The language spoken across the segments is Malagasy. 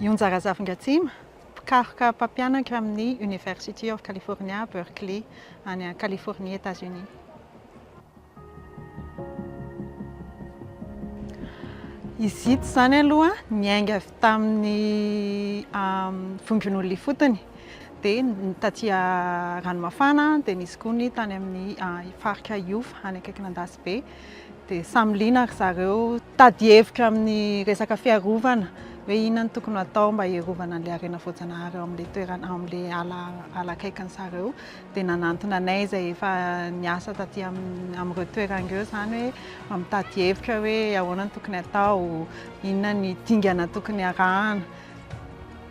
Ionjara Zafingatsima, mpikaroka mpampianatra amin'ny University of California, Berkeley, any Californie, Etazonia. Izy ito izany aloha niainga avy tamin'ny vondron'olona ifotony, dia taty Ranomafana, dia nisy koa ny tany amin'ny faritra Iofa, any akaikin'Andasibe. Dia samy liana ry zareo. Tady hevitra amin'ny resaka fiarovana hoe inona no tokony hatao mba hiarovana an'ilay harena voajanahary ao amin'ilay toerana, ao amin'ilay ala ala akaikin'ny zareo. Dia nanantona anay izay efa niasa taty amin'ny amin'ireo toerana ireo izany hoe mba mitady hevitra hoe ahoana no tokony hatao, inona ny dingana tokony harahana.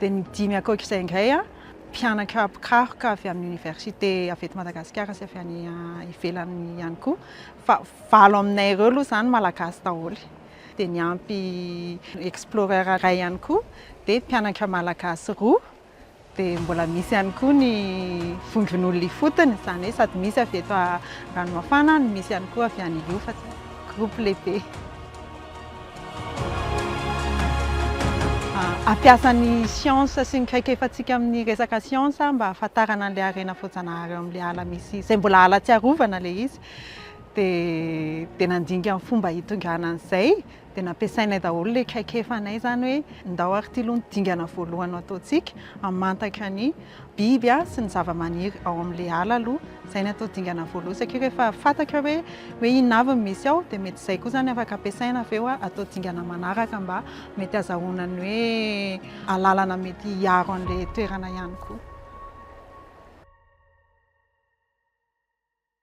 dia ny dimy ankoatra izay indray mpianatra mpikaroka avy amin'ny oniversite avy eto Madagasikara sy avy any ivelany ihany koa, fa valo aminay ireo aloha izany malagasy daholo. Dia niampy explorer iray ihany koa, dia mpianatra malagasy roa, dia mbola misy ihany koa ny vondron'olona ifotony, izany hoe sady misy avy eto Ranomafana no misy ihany koa avy any Iofa, groupe lehibe. Hampiasa ny siansa sy ny traikefantsika amin'ny resaka siansa mba hahafantarana an'ilay harena voajanahary ao amin'ilay ala misy, izay mbola ala tsy arovana ilay izy. Dia dia nandinika ny fomba hitondrana an'izay, dia nampiasainay daholo ilay traikefanay izany hoe ndao ary ity aloha no dingana voalohany no ataontsika, hamantatra ny biby sy ny zavamaniry ao amin'ilay ala aloha. Izay natao dingana voalohany satria rehefa fantatra hoe hoe inona avy no misy ao dia mety izay koa izany afaka ampiasaina avy eo atao dingana manaraka mba mety azahoana ny hoe alalana mety hiaro an'ilay toerana ihany koa.